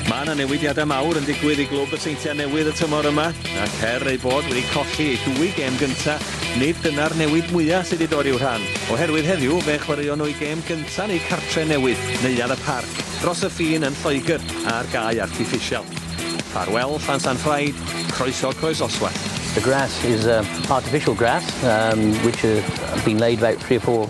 Mae yna newidiadau mawr yn digwydd i glwb y Seintiau Newydd y tymor yma, ac her eu bod wedi colli eu dwy gêm gyntaf, nid dyna'r newid mwyaf sydd wedi dod i'w rhan, oherwydd heddiw fe chwaraeon nhw eu gêm gyntaf yn eu cartre newydd, Neuadd y Parc, dros y ffin yn Lloegr, ar gae artiffisial. Ffarwel Llansan Ffraid, croeso Croesoswallt. The grass is artificial grass, which has been laid about three or four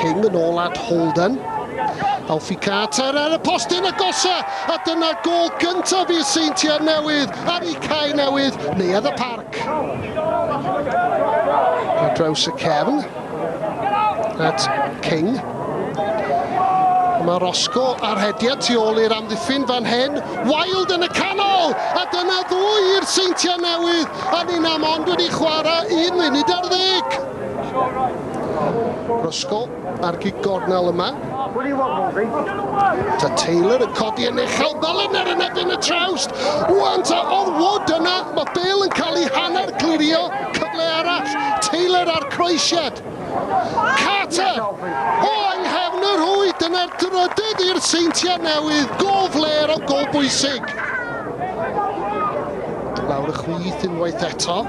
King yn ôl at Holden. Alfie Carter ar y postyn agosa a dyna gol gyntaf i'r Seintiau Newydd ar eu cae newydd, Neuadd y Parc. Ar draws y cefn at King. Mae Rosco ar hediad tu ôl i'r amddiffyn fan hyn. Wild yn y canol! A dyna ddwy i'r Seintiau Newydd a ni'n am ond wedi chwarae un munud ar ddeg. Roscoe ar gig gornel yma. Ta Taylor yn codi yn uchel, Molineux yn ebyn y trawst. Wan ta oedd Wood yna, mae Bale yn cael ei hanner glirio, cyfle arall, Taylor ar croesiad. Carter, o yng nghefn yr hwy, dyna'r drydydd i'r Seintiau Newydd, gol fler o gol bwysig. Lawr y chwith unwaith eto.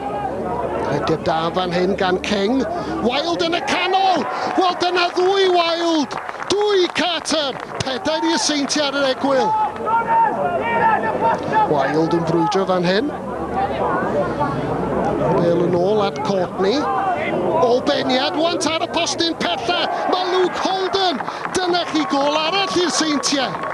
Rhediad da fan hyn gan King. Wild yn y canol! Wel, dyna ddwy Wild! Dwy Carter! Pedair i yseinti ar yr egwyl. Wild yn brwydro fan hyn. Bel yn ôl at Courtney. O beniad, want ar y postyn pella. Mae Luke Holden. Dyna chi gol arall i'r seintiau.